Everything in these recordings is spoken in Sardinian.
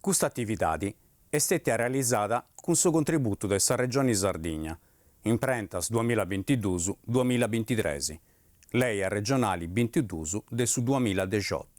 Custa atividadi est stètia realizada cun su contributu de sa Regioni Sardigna, imprentas duamilla bintidus duamilla bintitres, Leja Regionali bintidus de su duamilla dexiotu.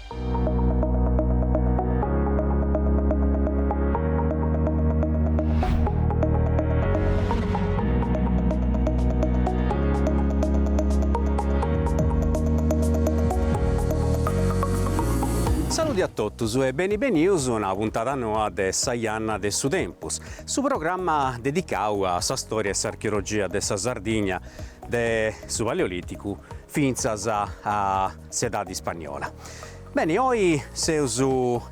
Saludi a totus e beni benius a una puntada noa de Sa Janna de su Tempus, su programma dedicau a sa stòria e s'archeologia de sa Sardigna, de su Paleolìticu fintzas a s'edade ispagnola. Beni, oi seus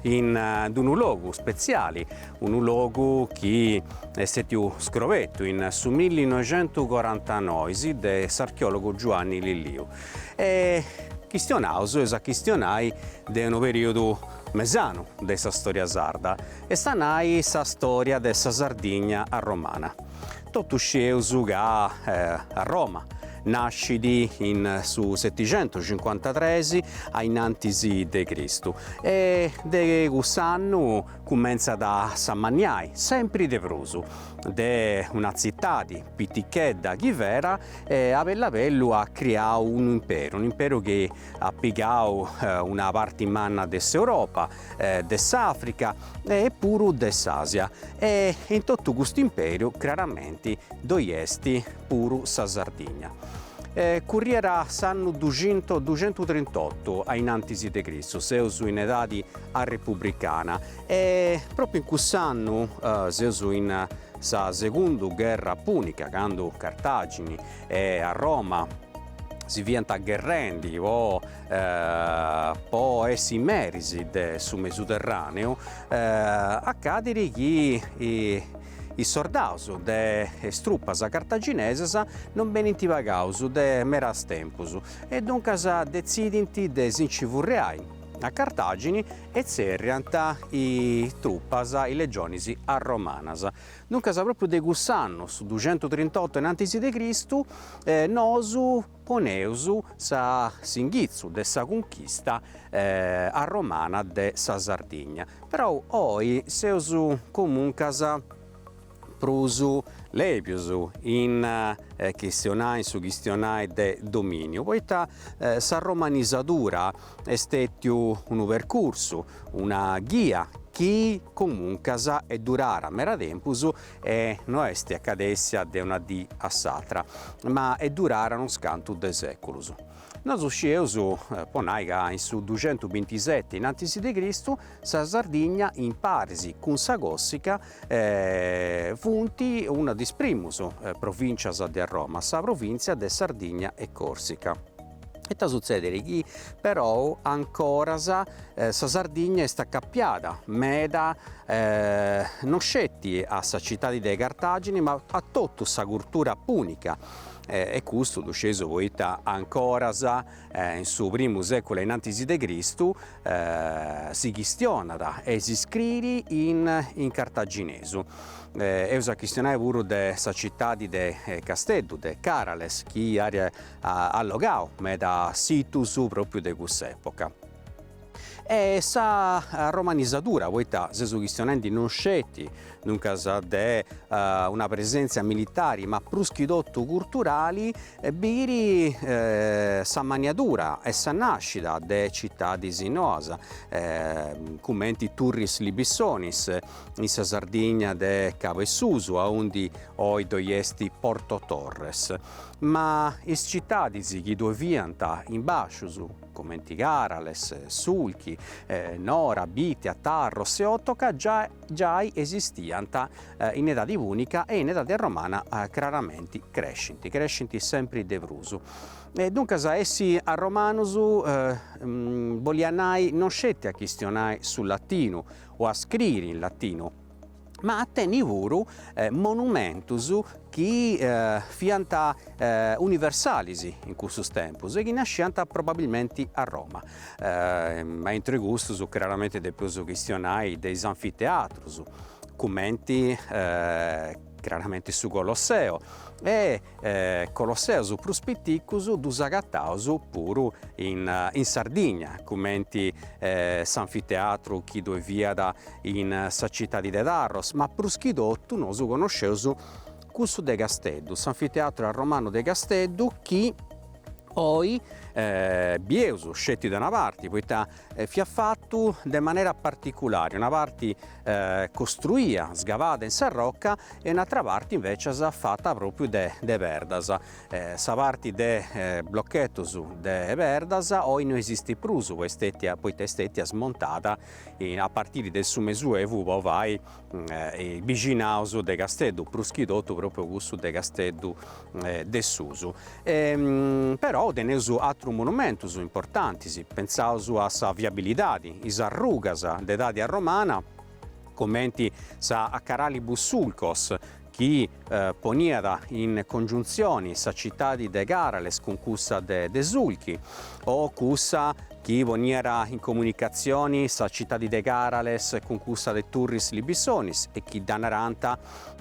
in d-unu logu spetziali, unu logu chi est stètiu scrobertu in su millinoixentuscorantanoi de s'archeòlogu Giuanni Lilliu e chistionaus eus a chistionai de unu perìodu mesanu de sa stòria sarda, est a nai sa stòria de sa Sardigna arromana. Totus scieus ca Arroma nascit in su setixentuscincuantatres ainantis de Cristu e de cuss'annu cumentzat a s'amanniai sempri de prus, de una tzitadi pitichedda chi fera e a bellu a bellu at criau unu imperu, un'imperu chi at pigau una parti manna de s'Europa de s'Àfrica e puru de s'Àsia e in totu custu imperu craramenti ddoi est puru sa Sardigna. Curriera s'annu duxinto duxentustrintotu ainantis de Cristu, seus in edadi arrepubricana e pròpriu in cuss'annu seus in sa segunda gherra pùnica candu Cartàgini e Arroma si fiant gherrendi po po essi meris de su Mesuterràneu, acadit chi is sordaus de is trupas cartaginesas non benint pagaus de meras tempus e duncas detzidint de si nci furriai a Cartàgini e tzerriant is trupas, is legionis arromanas. Duncas pròpriu de cuss'annu, su duxentustrintotu inantis de Cristu, nosu, Nosu poneus sa s'inghitzu de sa cunchista arromana de sa Sardigna, però oi seus comuncas prus lèbius in chistionai in su chistionai de domìniu, poita s'arromanizadura est stètiu unu percursu, una ghia chi comuncas est durada meda tempus e no est acadèssia de una dì a s'atra, ma est durada unos cantu de sèculus. Nosu scieus, po nai ca in su duxentusbintiseti innantis de Cristu sa Sardigna imparis cun sa Còrsica funt una de is primus provìntzias de Arroma, sa provìntzia de Sardigna e Còrsica. Ita sutzedit chi però ancoras sa Sardigna est acapiada meda no sceti a sa citadi de Cartagini ma a totu sa curtura punica e custu ddu scieus poita ancoras in su primu seculu ainnantis de Cristu si chistionat e si scriit in cartaginesu eus a chistionai puru de sa citadi de Casteddu de Carales chi iat allogau meda situs pròpiu de cuss'època. E sa romanizadura, poita seus chistionendi non sceti, duncas, de una presèntzia militari ma prus chi totu curturali, biit s'ammanniadura e sa nàscida de citadis noas, cumenti Turris Libissonis, in sa Sardigna de Cabu 'e Susu, aundi oi ddoi est Porto Torres. Ma is citadis chi ddoi fiant in bàscius, comenti Carales, Sulchi, Nora, Bìtia, Tarros e Otoca giai esistiant in edadi pùnica e in edadi romana craramenti crescint, crescint sempri de prus. E duncas essi arromanus boliat nai non sceti a chistionai su latinu o a scriri in latinu, ma a tenni puru monumentus chi fiant universalis in cussus tempus e chi nasciant probabilmenti a Roma, ma intre custus craramente depeus chistionai de is anfiteatrus, cumenti craramenti su Colosseo, e Colosseus prus piticus ddus agataus puru in Sardigna, cumenti s'anfiteatru chi ddoi fiat in sa citadi de Tharros, ma prus chi totu nosu connosceus cussu de Casteddu, s'anfiteatru arromanu de Casteddu chi oi bieus sceti de una parti, poita e fiat fatu de una manera particulare, una parte costruida, sgavada in sa roca e un'atra parte invècias fata pròpriu de de perdas. Sa parte de blochetos de perdas oi no esistit prus poita est stètia smontada a partire de su mesuevu po fai is bixinados de Casteddu, prus chi totu propriu cussu de Casteddu de Susu, però teneus atrus monumentus importantis, pensaus a sa viabilidadi, is arrugas de edadi arromana, cumenti sa Caralibus Sulcos, chi poniat in congiuntzioni sa citadi de Carales cun cussa de de Sulchi o cussa chi poniat in comunicatzioni sa citadi de Carales cun cussa de Turris Libissonis e chi dda narant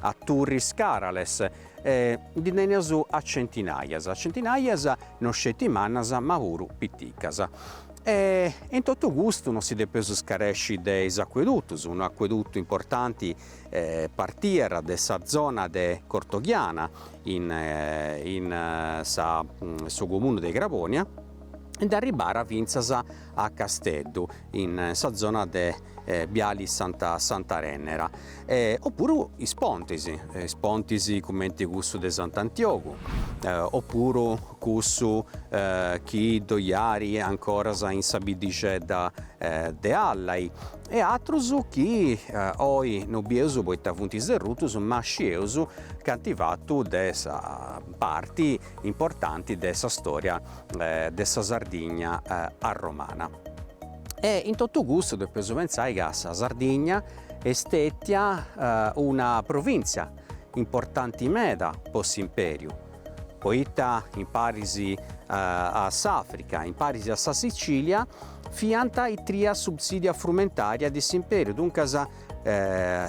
a Turris Carales, e ndi teneus a centinajas, a centinajas no sceti mannas ma puru piticas. E in totu custu no si depeus scaresci de is acuedutus, unu acuedutu importanti partiat de sa zona de Cortoghiana in in sa su comunu de Craponia e nd'arribàt fintzas a Casteddu in sa zona de biali Santa Santa Rennera e o puru is pontis, is pontis cumenti cussu de Sant'Antiogu o puru cussu chi ddoi at ancora in sa biddixedda de Allai e atrus chi oi no bieus poita funt sderrutus ma scieus ca ant fatu de sa parti importanti de sa storia de sa Sardigna arromana. E in totu custu depeus pentzai ca sa Sardigna est stetia una provìntzia importanti meda po s'Impèriu, poita imparis a s'Àfrica, imparis a sa Sitzìlia, fiant is tria subsìdia frumentària de s'Impèriu, duncas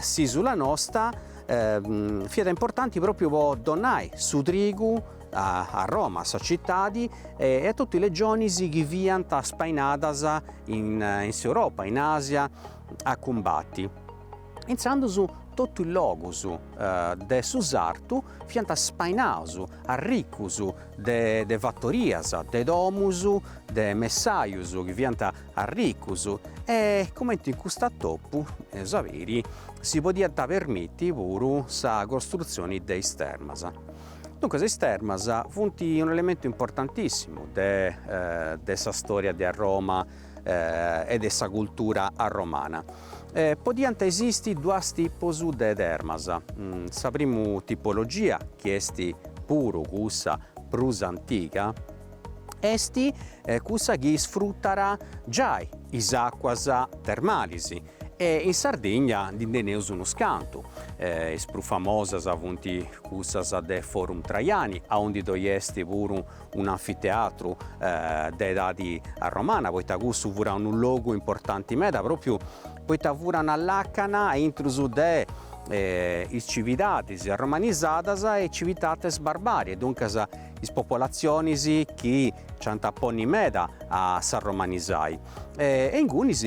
s'ìsula nosta fiat importanti pròpiu po donai su trigu a Roma, a sa citadi, e a totu is legionis chi fiant spainadas in s'Europa, in Àsia a cumbati. Intzandus totu is logus de su sartu fiant spainaus, arricus de fattorias, de domus, de messajus chi fiant arricus e cumenti in custu atopu, eus a biri, si podiant permiti puru sa costrutzioni de is termas. Duncas is termas funt un'elementu importantissimu de de sa storia de Arroma e de sa cultura arromana. podiant esisti duas tipus de termas, sa primu tipologia, chi est puru cussa prus antiga, est cussa chi isfrutat giai is àcuas termalis e in Sardigna ndi teneus unus cantu, is prus famosas funt cussas de Forum Traiani aundi ddoi est puru un'anfiteatru de edadi romana, poita cussu furat unu logu importanti meda, pròpiu poita furat una làcana a intrus de is cividadis arromanizadas e is civitates barbariae, duncas is popolatzionis chi nci ant a ponni meda a s'arromanizai. E ingunis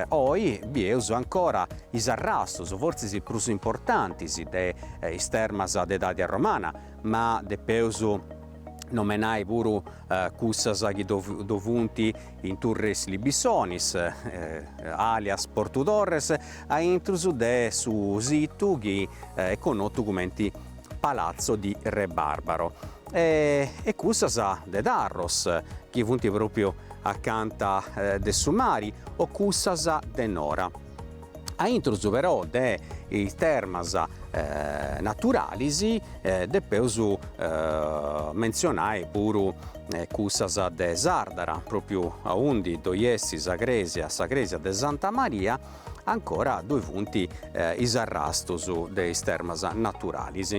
oi bieus ancora is arrastus, fortzis prus importantis, de is termas de edadi romana, ma depeus nomenai puru cussas chi ddoi funt in Turris Libissonis, alias Portu Torres, a intrus de su situ chi est connotu cumenti Palazzo di Re Barbaro, e cussas de Tarros, chi funt pròpriu acanta de su mari, o cussas de Nora. a intrus però de is termas naturalis depeus mentzionai puru cussas de Sardara, pròpriu aundi ddoi est sa crèsia, sa crèsia de Santa Maria, ancora ddoi funt is arrastus de is termas naturalis.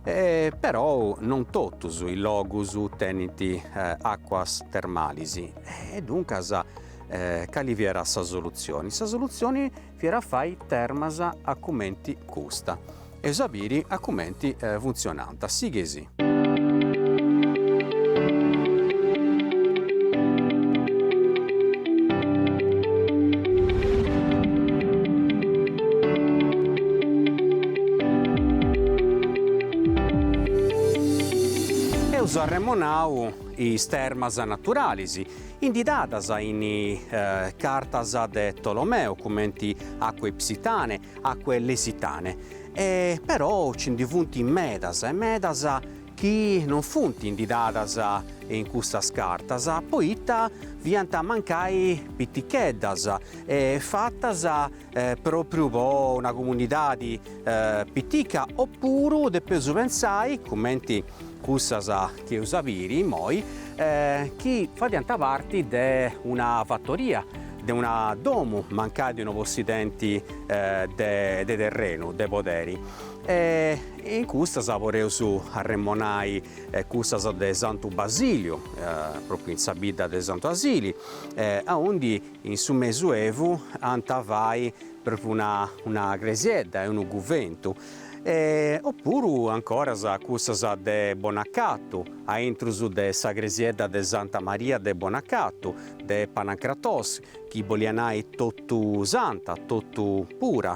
Però non totus is logus tenint àcuas termalis e duncas Cali fiat sa solutzioni? Sa solutzioni fiat a fai termas a cumenti custa. Eus a biri a cumenti funtzionant. Sighei·sì. Eus arremonau is termas naturalis. inditadas in cartas de Tolomeo cumenti Aquae Hypsitanae, Aquae Lesitanae, e però ci ndi funt medas e medas chi non funt inditadas in custas cartas poita fiant mancai piticheddas e fatas pròpriu po una comunidadi pitica opuru depeus pensai, cumenti cussas chi eus a biri immoi, chi fadiant parti de una fatoria, de una domu mancai de unu possidenti de terrenu, de poderi. E in cussas podeus arremonai cussas de Santu Basiliu, pròpriu in sa bidda de Santu Asili, aundi In su mesuevu anta fai propriu una cresiedda e unu cuventu opuru ancoras cussas de Bonacatu, aintrus de sa cresiedda de Santa Maria de Bonacatu, de Panancratos, chi bolia nai totu santa, totu pura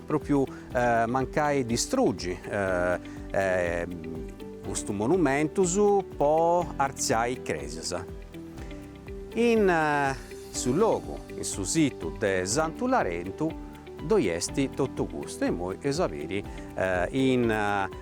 Pròpiu mancai distrugi custus monumentus po artziai crèsias. In su logu, in su situ de Santu Larentu ddoi est totu custu e imoi eus a biri in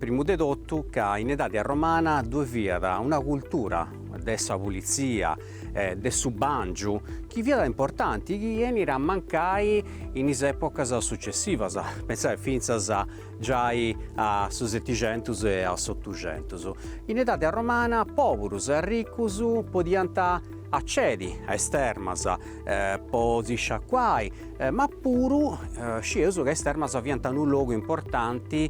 Primu de totu ca in edade arromana ddoe fiat una cultura de sa pulitzia, de su bàngiu, chi fiat importanti, chi 'enit a mancai in is èpocas sucessivas, pensai fintzas giai a su Setixentus e a s'Otuxentus. In edade arromana pòburus e arricus podiant acedi a is termas po si sciacuai, ma puru scieus ca is termas fiant unu logu importanti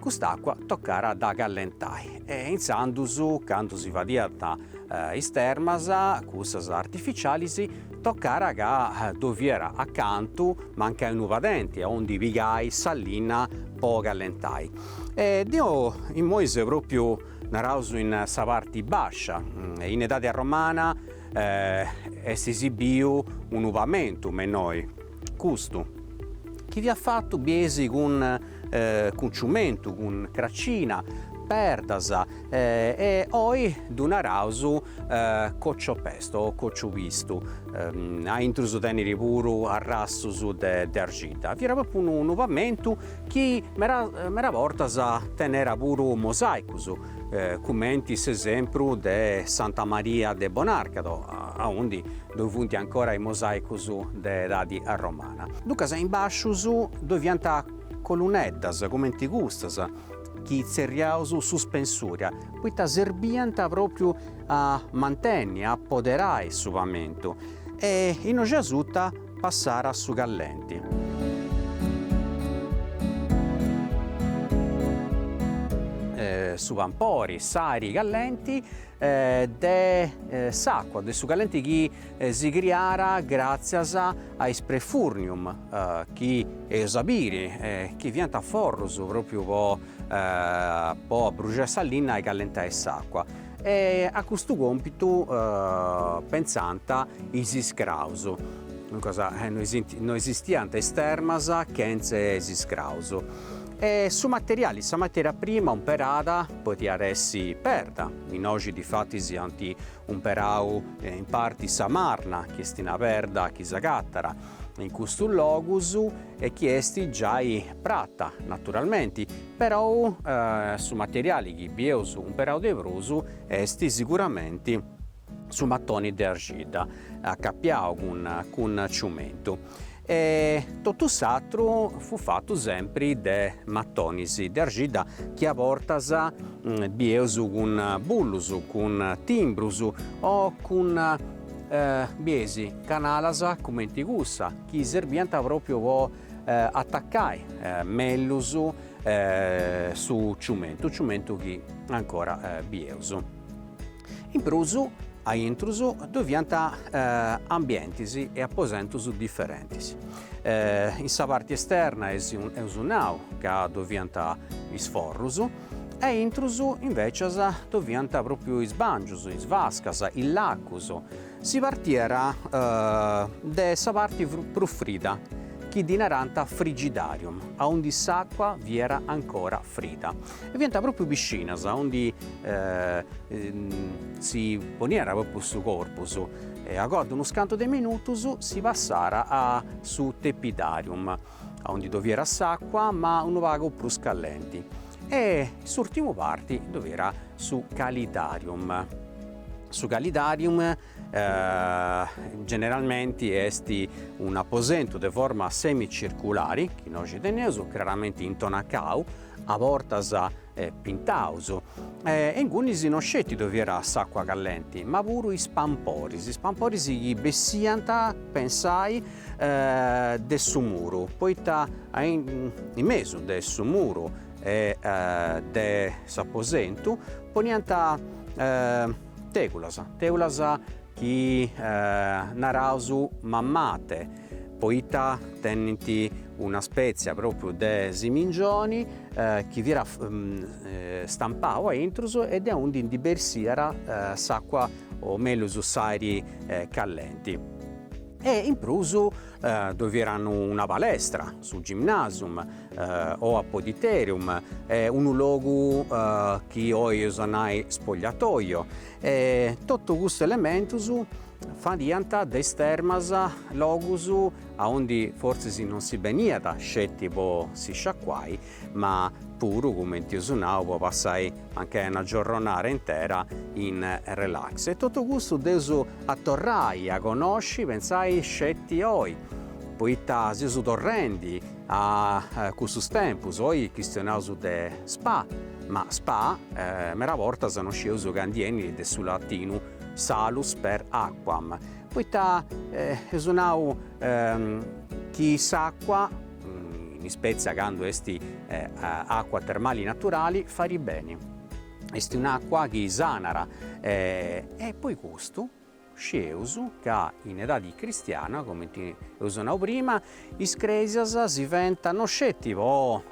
Cust'àcua tocàra a dda callentai e intzandus, candu si fadiant is termas, cussas artificialis, tocàra ca ddoi fiat a cantu mancai unu padenti a undi pigai sa linna po callentai. E deu immoi seu pròpiu, naraus, in sa parti bàscia. In edadi arromana est esibiu unu pamentu me innoi. Custu, chi fiat fatu biesi cun ciumentu, cun cracina, perdas, e oi ddu naraus coccio pesto o cocciu pistu, a intrus tenera puru arrastus de argidda, fiat propriu unu pamentu chi meda bortas tenera puru mosaicus, cumenti s'esempru de Santa Maria de Bonarcado, aundi ddoi funt ancora is mosaicus de edadi arromana. Duncas in bascius ddoi fiant coluneddas cumenti custas chi tzerriaus suspensuria, poita serbiant propriu a mantenni, a apoderai su pamentu e innoi asuta Passara su callenti. su pampori, s'ari callenti de s'acqua, de su callenti chi si criara gratzias a is prefurnium chi eus a biri chi fianta forrus propriu po po abbruxai sa linna e callentai s'acqua. E a custu còmpitu pentzànt is iscraus, duncas no esistiant is termas chentze is iscraus, e su materiali, sa matèria prima umperada podiat essi perda, innoxi difatis ant umperau in parti sa marna chi est una perda chi s'agatat in custus logus e chi est giai prata naturalmenti, Perou su materiali chi bieus umperau de prus est siguramenti su matoni de arxidda acapiau cun ciumentu e totu s'atru fut fatu sempri de matonis de arxidda chi a bortas bieus cun bullus cun timbrus o cun bieis canalas cumenti cussa chi serbiant propriu po Atacai mellus su ciumentu, ciumentu chi ancora bieus. In prus, a intrus ddoi fiant ambientis e aposentus diferentis. In sa parti esterna eus nau ca ddoi fiant is forrus e a intrus invecias ddoi fiant pròpriu is bàngius, is vascas, is lacus Si partiat de sa parti prus frida, chi ddi narànt frigidarium, aundi s'àcua fiat ancora frida. E fiant pròpiu piscinas aundi si poniat pròpiu su corpus e agoa de unus cantu de minutus si passàt a su tepidarium. aundi ddoi fiat s'àcua ma unu pagu prus callenti e s'urtimu parti ddoi fiat su calidarium. Su calidarium generalmenti est un'aposentu de forma semicirculari, chi innoxi teneus, craramenti intonacau, a bortas pintaus, e ingunis no sceti ddoe fiat s'àcua callenti, ma puru is pamporis, is pamporis chi bessiant, pensai, de su muru, poita in mesu de su muru e de s'aposentu poniant tègulas, tègulas chi naraus mammate poita tenint una spètzia pròpriu de simingioni chi fiat stampau a intrus e de aundi ndi bersiat s'àcua o mellus s'àiri callenti e in prus ddoi fiat una palestra, su gymnasium o apodyterium, unu logu chi oi eus a nai spogliatoio e totu custus elementus Fadiant de is termas logus aundi fortzis non si beniat sceti po si sciacuai, ma puru, cumenti eus nau, po passai mancai una giorronada intera in relax. E totu custu dd'eus a torrai a connosci, pentzai, sceti oi, poita seus torrendi a cussus tempus, oi chistionaus de spa, ma spa mera bortas non scieus ca ndi 'enit de su latinu Salus per aquam, poita eus nau chi s'acqua, in ispètzie candu est acqua termali naturali, farit beni, est un'acqua chi sanara e poi custu scieus ca in edadi cristiana, comente eus nau prima, is crèsias si fent no sceti po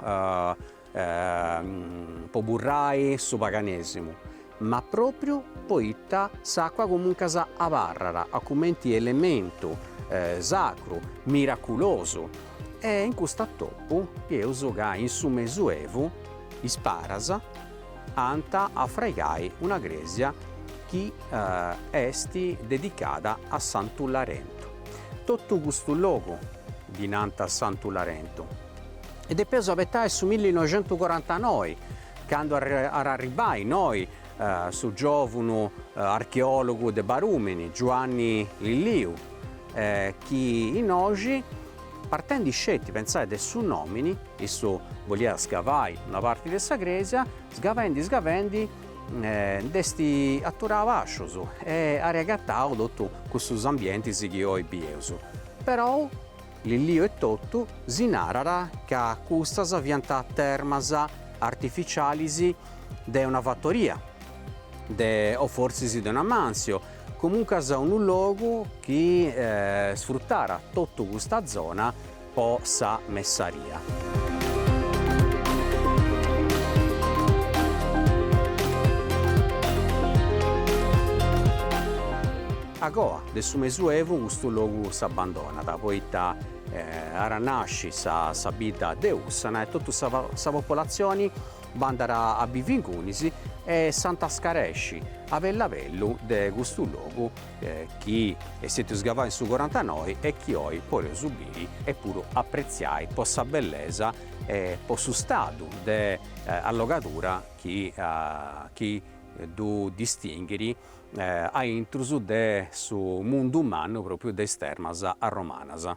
po burrai su paganesimu, ma propriu poita s'acqua comuncas abarrat a cumenti elementu sacru, miraculosu e in custu atopu bieus ca in su mesuevu is paras ant a fraigai una cresia chi est dedicada a Santu Larentu. Totu custu logu ddi nant a Santu Larentu. e depeus abetai su millinoixentucorantanoi, candu at a arribbai innoi su giòvunu archeòlogu de Barùmini, Giuanni Lilliu, chi innoxi, partendi sceti, pentzai, de su nòmini, issu boliat scavai una parti de sa crèsia, sgavendi sgavendi nd'est aturau spasciu e at agatau totu cussus ambientis chi oi bieus, perou Lilliu etotu si narat ca custas fiant termas artificialis de una fatoria, de o forsis de una mansio, comuncas unu logu chi sfrutarat totu custa zona po sa messaria. A coa de su mesuevu custu logu s'abbandonat poita at a nasci sa sa bidda de Ussana e totu sa sa popolatzioni bandat a bivi ingunis e s'ant a scaresci a bellu a bellu de custu logu chi est stètiu sgavau in su corantanoi e chi oi podeus biri e puru apretziai po sa bellesa e po su stadu de allogadura chi chi ddu distinghiri a intrus de su mundu mannu pròpiu de is termas romanas.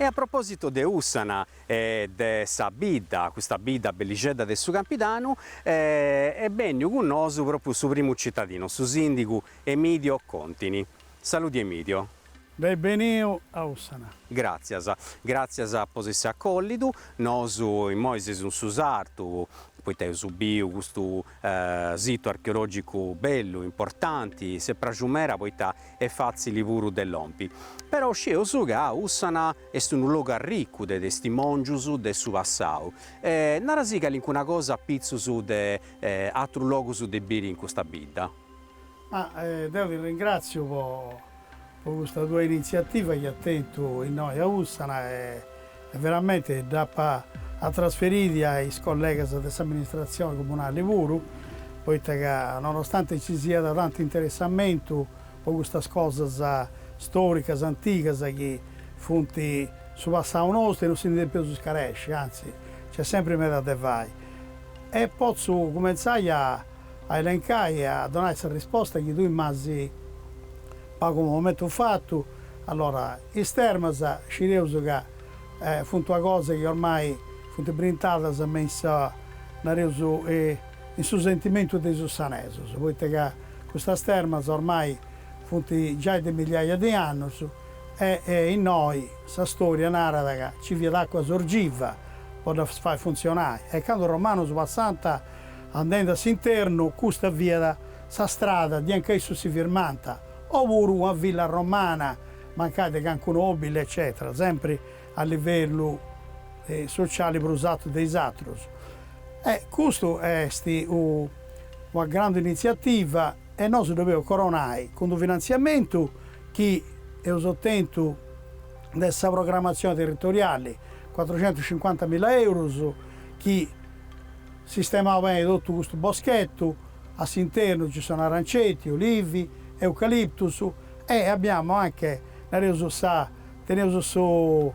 E a propòsitu de Ussana e de sa bidda, custa bidda bellixedda de su campidanu, est bènniu cun nosu pròpiu su primu citadinu, su sìndigu Emidio Contini. Saludi Emidio. Beni beniu a Ussana. Gràtzias. Gràtzias po s'essi acolliu. Nosu immoi seus in su sartu, poita eus biu custu situ archeològicu bellu, importanti, s'est pràxiu meda poita est fàtzili puru de lompi. Però scieus ca Ussana est unu logu arricu de testimòngius de su passau. Nara·sì calincuna cosa apitzus de atrus logus de biri in custa bidda. Ma deu ti ringràtziu po po custa tua initziativa chi as tentu innoi a Ùssana e e veramente dd'ap a trasferiri a is collegas de s'amministratzioni comunali puru, poita ca nonostante nci siat tantu interessamentu po custas cosas stòricas antigas chi funt su passau nostru e non si ndi depius scaresci, anzi nc'est sempri meda de fai. E potzu cumentzai a a elencai e a donai sa risposta chi tui m'as agoa momentu fatu, allora is termas scieus ca funt una cosa chi ormai funt brintadas me in sa, nareus, in su sentimentu de is ussanesus, poita ca custas termas ormai funt giai de miliaia de annus e innoi sa storia narat ca nci fiat àcua sorgiva po ddas fai funtzionai e candu is romanus passant andendi a s'internu, custa fiat sa strada de anca issus si firmànt, o puru una villa romana mancai de calincunu nòbili eccètera, sempri a livellu sociali prus artu de is atrus. E custu est una grandu initziativa e nosu dd'oleus coronai cun unu finantziamentu chi eus otentu de sa programmatzioni territoriali, cuatrucentus cincuantamila eurus, chi sistemau beni totu custu boschetu, a s'internu ci sono aranceti, olivi, eucaliptus e abbiamo anche, nareus, sa, teneus su,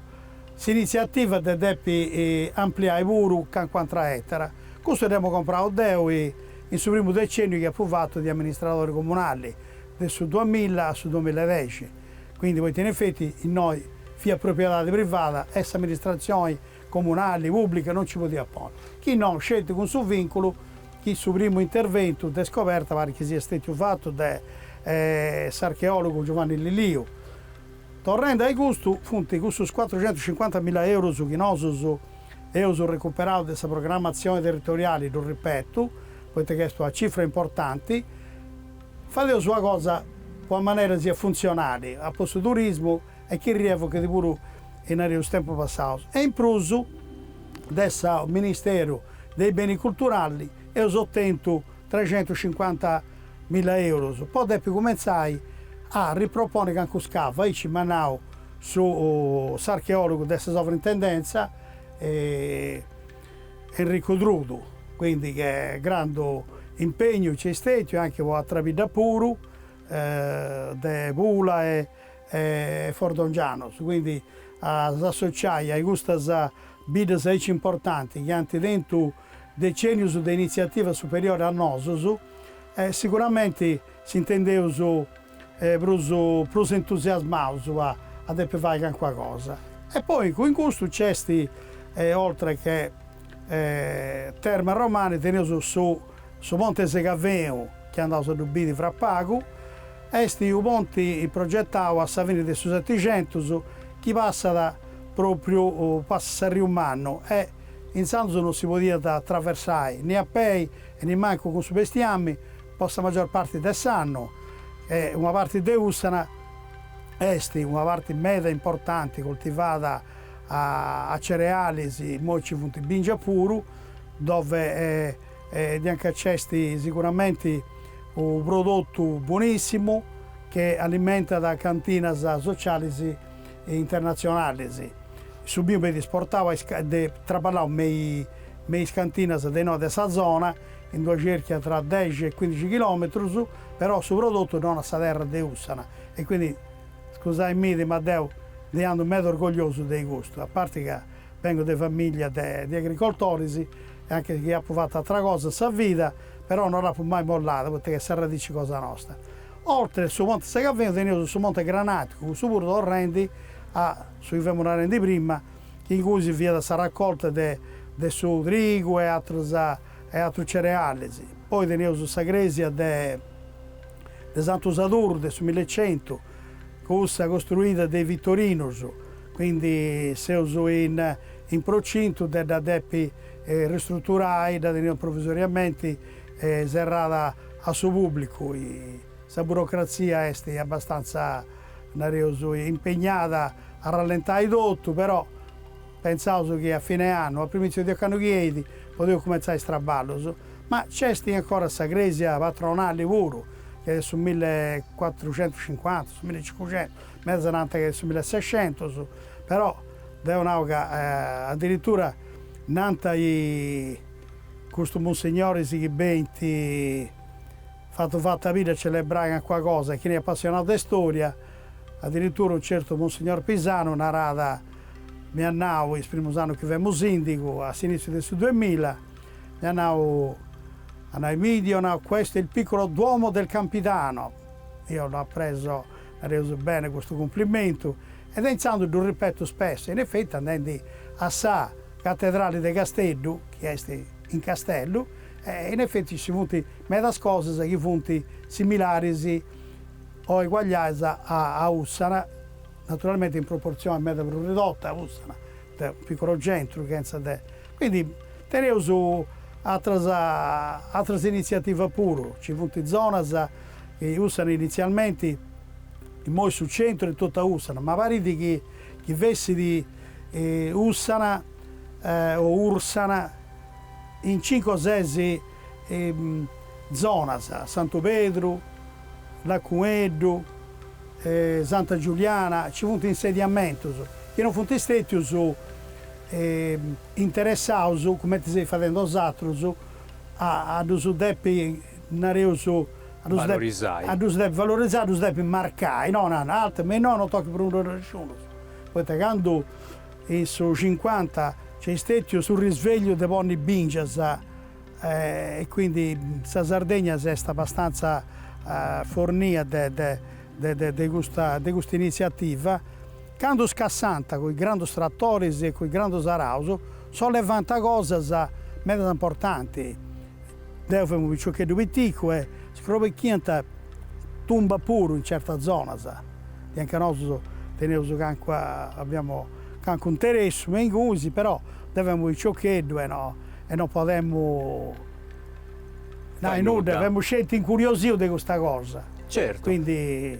s'initziativa de depi ampliai puru calincuna atra ètara. Custu dd'emu comprau deu in su primu decenniu chi apu fatu de amministradori comunali, de su duamila a su duamila e dexi, quindi poita in effetti innoi fiat propriedadi privada e s'amministratzioni comunali, pùblica, non nci podiat ponni, chi no sceti cun su vìnculu chi su primu interventu de scoberta parit chi siat stètiu fatu de s'archeòlogu Giovanni Liliu. Torrendi a-i custu, funt cussus cuatrucentuscincuanta mila eurus chi nosus eus recuperaus de sa programmatzioni territoriali, ddu ripetu, poita chi est una cifra importanti, fadeus una cosa po chi a manera siat funtzionali, apostu turismu, e chi rievochit puru in aterus tempus passaus, e in prus de su Ministeru de is Benis Culturali eus otentu trecentuscincuanta milla eurus po depi cumentzai a riproponi calincunu scavu, aici m'at nau s'archeologu de sa Sovrintendenza Enrico Trudu, quindi che grandu impegnu nc'est stètiu e anche po atra bidda puru de Pula e e Fordongianus, quindi a si associai a custas biddas aici importanti chi ant tentu decenius de initziativa superiori a nosus, siguramenti s'intendeus prus prus entusiasmaus a depi fai calincuna cosa. E poi in custu nc'est oltre che Terme Romane teneus su Su ponti 'e Segavenu, chi andaus a ddu biri fra pagu, est u ponti progetau a sa fini de su Setixentus chi passat propriu passat s'arriu mannu e intzandus non si podiat atraversai ni a pei e nimancu cun su bestiami po sa magior parti de s'annu e una parti de Ussana est una parti meda importanti cultivada a cerealis, immoi nci funt bingia puru, dove Edianca nc'est siguramenti u prodotu bonissimu che alimentat cantinas socialis internatzionalis. Su biu benit isportau e traballau me i me is cantinas de inoi de sa zona, in d'una cerchia tra dexi e cuindixi chilometrus, però su prodotu non a sa terra de Ussana e quindi scusai-mì ma deu ndi andu meda orgogliosu de custu, a parti ca bengu de famiglia de agricoltoris. e anche chi apu fatu atra cosa in sa vida, però no dd'apu mai mollada, poita chi est s'arradici cosa nosta. Oltre su Ponte Segavenu teneus su Monte Granaticu, cussu puru torrendi a su chi femus narendi prima, chi ingui si fiat sa raccolta de de su trigu e atrus e atrus cerealis. Poi teneus sa cresia de de Santu Sadurru de su millecentu, Cussa costruida de i Vittorinus, quindi seus in procintu de dda depi ristruturai, dda teneus provvisoriamenti serrada a su pubblicu, sa burocrazia est abastanza, nareus, impegnada a rallentai totu, però, Pentzaus chi a fine annu, a primìtziu de ocannu chi eit, podeus cumentzai is traballus, ma nc'est ancora sa crèsia patronali puru, chi est de su milli cuatruxentuscincuanta, su milli cincuxentus, medas nant chi est de su milli sexentus, però deu nau ca adiritura nant custus munsignoris chi benint fatu fatu a biri a celebrai calincuna cosa, chi chini est apassionau de storia, adiritura unu certu munsignor Pisanu narat Mi at nau, is primus annus chi femu sìndigu, a s'inìtziu de su duemilla, mi at nau, at nau Emidio, at nau, questo è il piccolo duomo del Campidano. Deu dd'apu presu, nareus, bene custu cumplimentu e de intzandus ddu ripetu spesso e in efetti andendi a sa Catedrali de Casteddu, chi est in Castellu, in efetti nci funt medas cosas chi funt similaris o eguagliadas a Ussana. naturalmente in proportzione meda prus ridotta a Ussana de unu piccolo centru chentza de, quindi teneus atras atras iniziativas puru, ci funt zonas chi Ussana inizialmenti, immoi su centru est totu a Ussana, ma parit chi chi fessit Ussana o Ursana in cincu o ses zonas, Santu Pedru, Lacueddu, Santa Giuliana, ci funt insediamentus chi non funt stètius interessaus, cumenti seis fadendi bosatrus, a a ddus depi, nareus, a ddus depi, a ddus depi valorizai, a ddus depi marcai, no, altu, ma innoi non tochit prus nudda nesciunus, poita candu In su cincuanta nc'est stètiu su risvegliu de ponni bìngias e quindi sa Sardegna s'est abbastanza fornia de custa initziativa. Candu scassànt cun is grandus tratoris e cun is grandus araus, sollevànt cosas meda importanti. Deu femu unu piciocheddu piticu e scrobechiant tumba puru in certas zonas, anca nosus teniaus calincuna, aviamu calincunu interessu me ingunis, però deu femu unu piciocheddu e no e no podemu nai nudda, femus sceti incuriosius de custa cosa. Certu. Quindi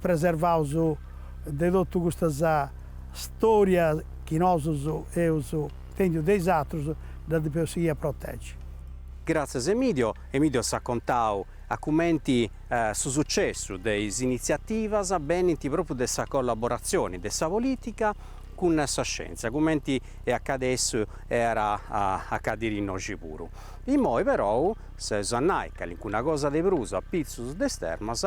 preservaus de totu custas storia chi nosus eus intèndiu de is atrus, ddas depeus sighiri a protegi. Gratzias Emidio, Emidio s'at contau a cumenti su sucessu de is initziativas benint propriu de sa collaboratzioni de sa politica cun sa scientzia, cumenti est acadèssiu e at a acadiri innoxi puru. Immoi perou s'eus a nai calincuna cosa de prus a pitzus de is termas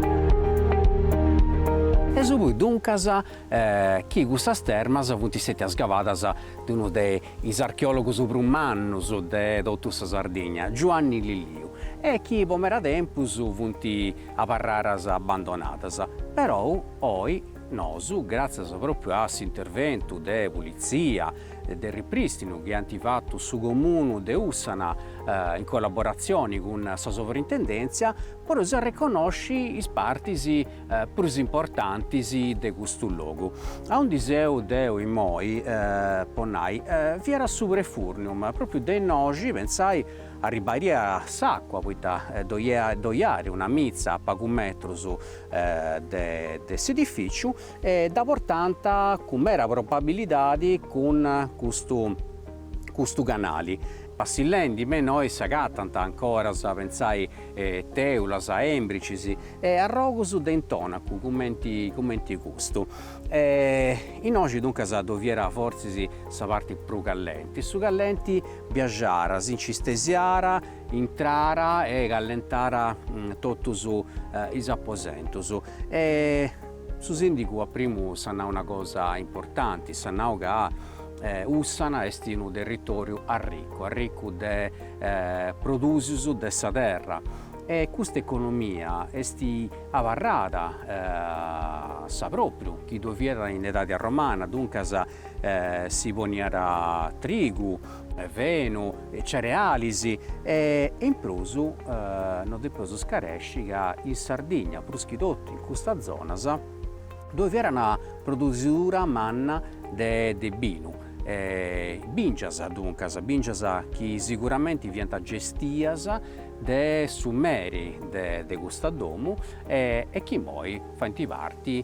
E su puru duncas chi custas termas funt istètias scavadas de unu de is archeòlogus prus mannus de totu sa Sardigna, Giuanni Lilliu, e chi po meda tempus funt abarraras abbandonadas, perou oi, Nosu, gràtzias pròpiu a s'interventu de pulitzia e de riprìstinu chi ant fatu su Comunu de Ùssana in collaboratzioni cun sa Sovrintendèntzia, podeus arreconnosci is partis prus importantis de custu logu. A undi seu deu immoi, po nai, fiat su prefurnium, pròpiu de innoxi, pentzai, arribaiat s'àcua, poita ddoi iat una mitza a pagu metrus de s'edifìciu e dda portànt cun mera probabilidadi cun custu custu canali. Passillendi me innoi s'agatant ancoras, pentzai, tèulas, èmbricis e arrogus de intònacu cumenti cumenti custu. E innoxi duncas ddoi fiat fortzis sa parti prus callenti. Su callenti biaxàra si nci stesiàra intrara e callentara totus is aposentus e su sìndigu a primu s'at nau una cosa importanti, s'at nau ca Ùssana est unu territòriu arricu, arricu de produsius de sa terra e custa economia est abarrada sa pròpriu chi ddoi fiat in edadi arromana, duncas si poniat trigu fenu, cerealis e in prus no depeus scaresci ca in Sardigna, prus chi totu in custas zonas, ddoi fiat una produsidura manna de de binu, bìngias duncas, bìngias chi siguramenti fiant gestias de su meri de de custa domu e chi imoi faint parti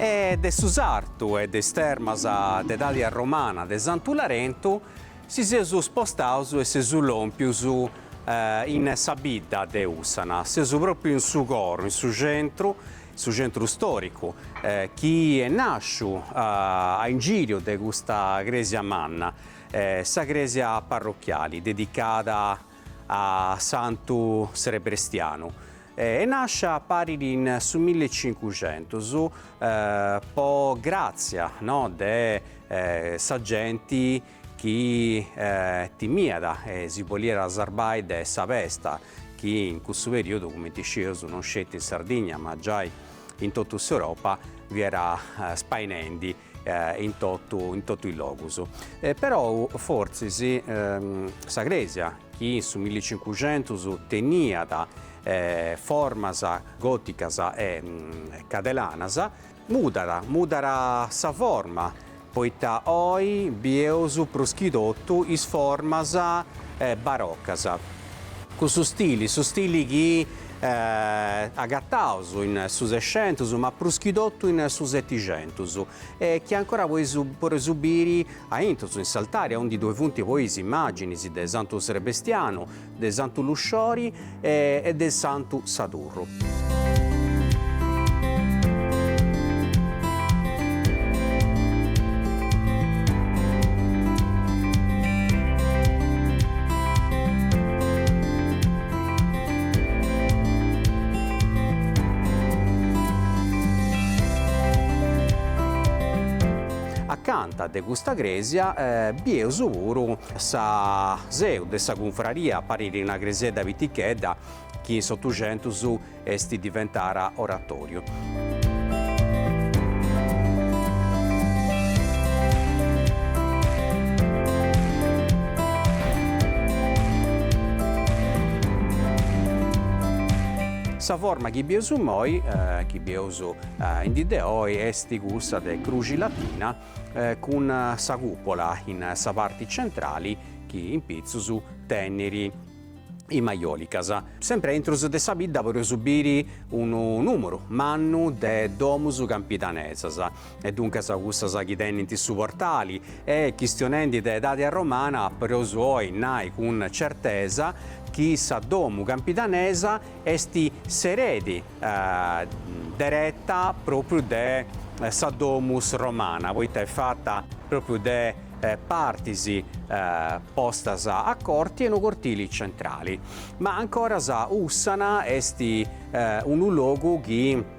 E de su sartu e de is termas de edadi arromana de Santu Larentu si seus spostaus e seus lòmpius in sa bidda de Ùssana, seus pròpriu in su coru, in su centru, in su centru stòricu, chi est nàsciu a ingìriu de custa crèsia manna, Sa crèsia parrochiali dedicada a Santu Srebrestianu e nàscia parit in su mille e cincuxentus po gràtzia no de sa genti chi timiat e si boliat sarbai de sa pesta chi in cussu perìodu, cumenti iscieus, non sceti in Sardigna ma giai in totu s'Europa fiat spainendi. in totu in totu is logus e perou fortzis sa crèsia chi in su milli e cincuxentus teniat formas gòticas e cadelanas mudat mudat sa forma poita oi bieus prus chi totu is formas barocas. Cussu stili, su stili chi agataus in su Sexentus ma prus chi totu in su Seticentus e chi ancora poi podeus biri aintrus in s'altari aundi ddoi funt poi is immàginis de Santu Serbestianu, de Santu Lusciori e de Santu Sadurnu. durru. Acanta de custa crèsia bieus puru sa seu de sa cunfraria, parit una cresiedda pitichedda, chi in s'Otuxentus est diventara oratoriu. Sa forma chi bieus immoi, chi bieus in dì de oi, est cussa de cruxi latina cun sa cùpola in sa parti centrali chi in pitzus teniri is majòlicas. Sempri aintrus de sa bidda podeus biri unu nùmuru mannu de domus campidanesas, e duncas cussas chi tenint su portali, e chistionendi de edadi arromana podeus oi nai cun certesa chi sa domu campidanesa est s'eredi dereta pròpriu de sa domus romana, poita est fata pròpriu de partis postas a corti e unu cortili centrali, ma ancoras Ussana est unu logu chi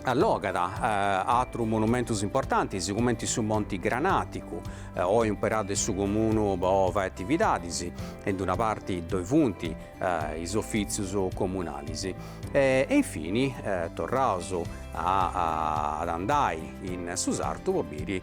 allogat atrus monumentus importantis cumenti su Monti Granaticu, oi umperau de su comunu po fai atividadis e in d-una parti ddoi funt is ofitzius comunalis. E infinis torraus a andai in su sartu po biri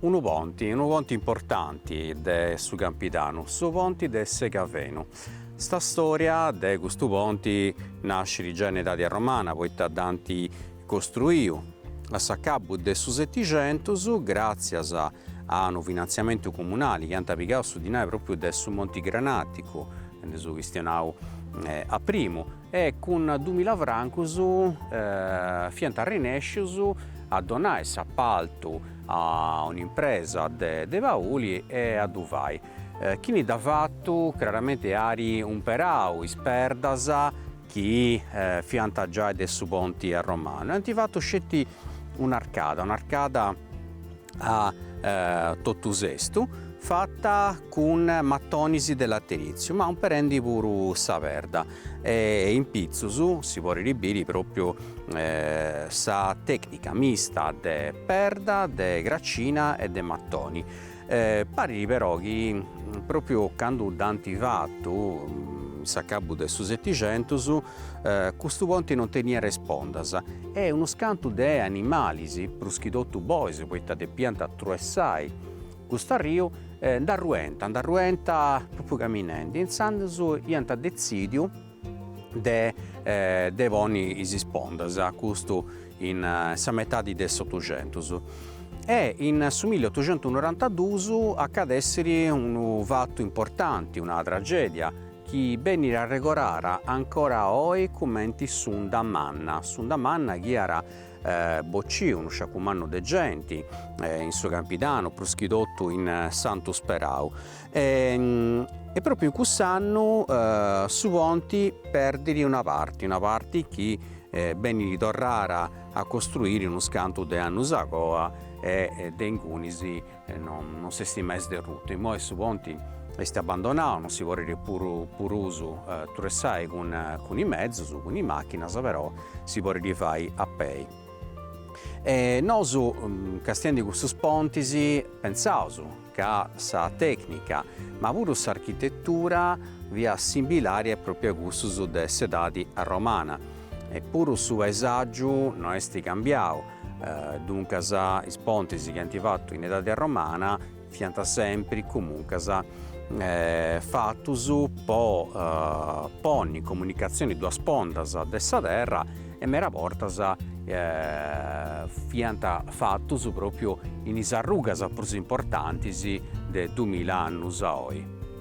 Unu ponti, unu ponti importanti de su Campidanu, su ponti de Segavenu. Sa storia de custu ponti nascit già in edadi romana, poita dd'ant costruiu a s'acabu de su Setixentus, gràtzias a unu finantziamentu comunali chi ant pigau su dinai pròpriu de su Monti Granàticu, nd'eus chistionau a primu, e cun dumila francos fiant rinèscius a donai s'apaltu a un'impresa de Pauli e a ddu fai, chini dd'at fatu craramenti at imperau is perdas chi fiant giai de su ponti arromanu e ant fatu sceti un'arcada, un'arcada A totu sestu, fata cun matonis de lateritziu, ma imperendi puru sa perda e in pitzus si podit biri propriu sa tecnica mista de perda, de gracina e de matoni. Parit però chi propriu candu dd'ant fatu, in s'acabu de su Setixentus, Custu ponti non teniat ispondas e unus cantus de animalis, prus chi totu bois poita depiant atruessai cust'arriu, nd'arruiant, nd'arruiant propriu caminendi e intzandus iant detzidiu de de ponni is spondas, custu in sa metadi de s'otuxentus. E in su milli otuxentusnorantadus acadessit unu fatu importanti, una tragedia, chi benit arregordara ancora oi cumenti s'unda manna, s'unda manna chi at bocciu unu sciacu mannu de genti in su Campidanu prus chi totu in Santu Sperau e propriu in cuss'annu su ponti perdit una parti, una parti chi benit torrara a costruiri unus cantus de annus agoa e de ingunis Non s'est mai sderrutu. Immoi su ponti est abbandonau, non si podit prus truessai cun cun is mezus, cun is macchinas, però si podit fai a pei. E nosu castiendi custus pontis pensaus ca sa tecnica, ma puru s'architettura fiat simbilari propriu a cussus de s'edadi romana, e puru su paesaggiu no est cambiau, Duncas is pontis chi ant fatu in edadi romana fiant sempri comuncas fatus po ponni in comunicazioni duas spondas de sa terra e meda bortas fiant fatus propriu in is arrugas prus importantis de dumila annus a oi.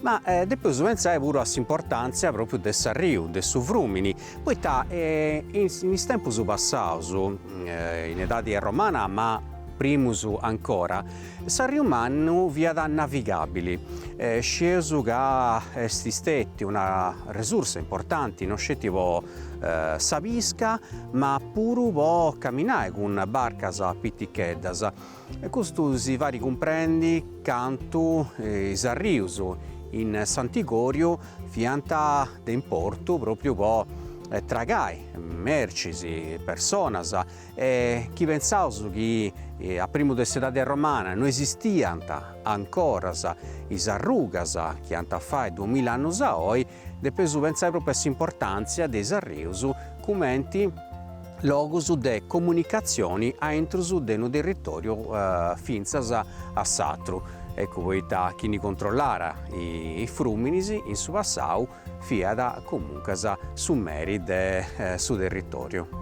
Ma depeus pensai puru a s'importàntzia pròpriu de s'arriu, de su frùmini, poita in is tempus passaus, in edadi romana ma primus ancora, s'arriu mannu fiat navigàbili. Scieus ca est stètia una resursa importanti no sceti po sa pisca ma puru po caminai cun barcas piticheddas. E custu si farit cumprendi cantu is arrius in Sant'Igòriu fiant de importu pròpriu po tragai mercis, personas, e chi pentzaus chi a primu de s'edadi romana no esistiant ancoras is arrugas chi ant a fai duamilla annus a oi, Depeus pentzai pròpriu a s'importàntzia de is arrius cumenti logus de comunicatzioni aintrus de unu territòriu fintzas a s'atru, eccu poita chi ndi controllara is frùminis in su passau fiat comuncas su meri de su territòriu.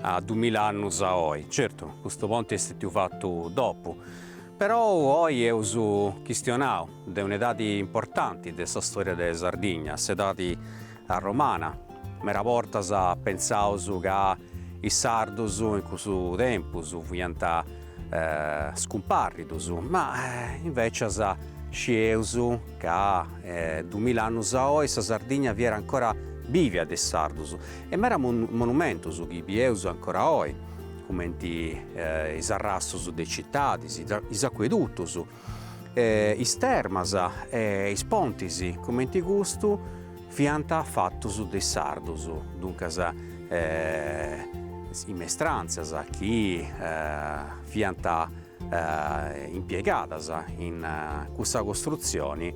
a dumila annus a oi, certu custu ponti est stetiu fatu dopu, perou oi eus a chistionai de un'edadi importanti de sa storia de Sardigna, s'edadi arromana, mera bortas pentzaus ca is sardus in cussu tempus fiant scumparridus, ma invecias scieus ca dumila annus a oi sa Sardigna fiat ancora bivia de is sardus, E mera monumentus chi bieus ancora oi, cumenti is arrastus de citadis, is acuedutus, is termas e is pontis cumenti custu fiant fatus de is sardus, duncas is mestrantzas chi fiant impiegadas in cussa costrutzioni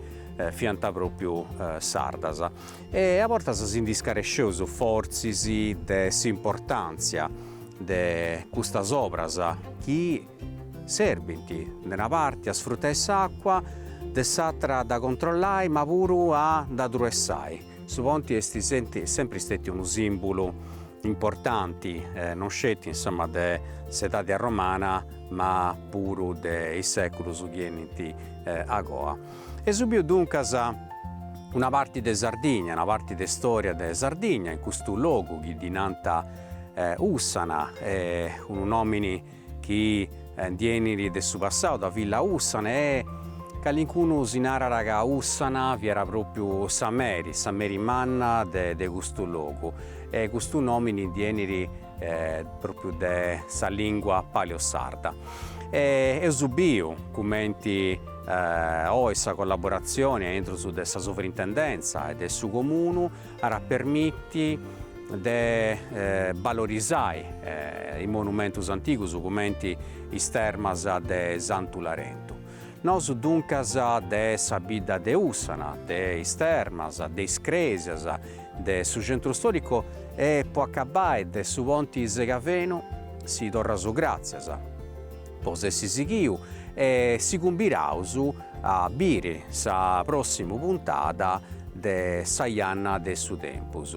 fiant pròpriu sardas. E a bortas si ndi scaresceus fortzis de s'importàntzia de custas obras chi serbint, de una parti, a sfrutai s'àcua, de s'àtra a dda controllai ma puru a dda truessai. Su ponti est sempri stètiu unu sìmbulu importanti, non sceti insoma de s'edadi arromana ma puru de is sèculus chi 'enint a goa. Eus biu duncas una parti de Sardigna, una parti de storia de Sardigna in custu logu chi ddi nant Ussana, unu nomini chi ndi 'enit de su passau, sa villa Ussana e calincunu si narat ca Ussana fiat propriu sa meri, sa meri manna de custu logu e custu nomini ndi 'enit propriu de sa lingua paleosarda e eus biu cumenti oi sa collaboratzioni a intrus de sa Sovrintendenza e de su Comunu arat a permiti de balorizai is monumentus antigus cumenti is termas de Santu Larentu. Nosu duncas de sa bidda de Ussana, de is termas, de is crèsias, de su centru stòricu e, po acabbai, de su ponti Segavenu, si torraus gràtzias po s'essi sighiu e si cumbiraus a biri sa pròssima puntada de Sa janna de su tempus.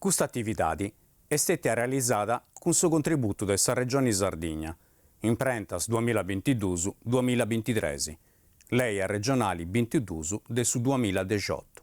Custa atividadi est stètia realizada cun su contributu de sa Regioni Sardigna, imprentas duamilla bintiduus duamilla bintitres, Lei Arregionali bintiduus de su duamilla dexiotu.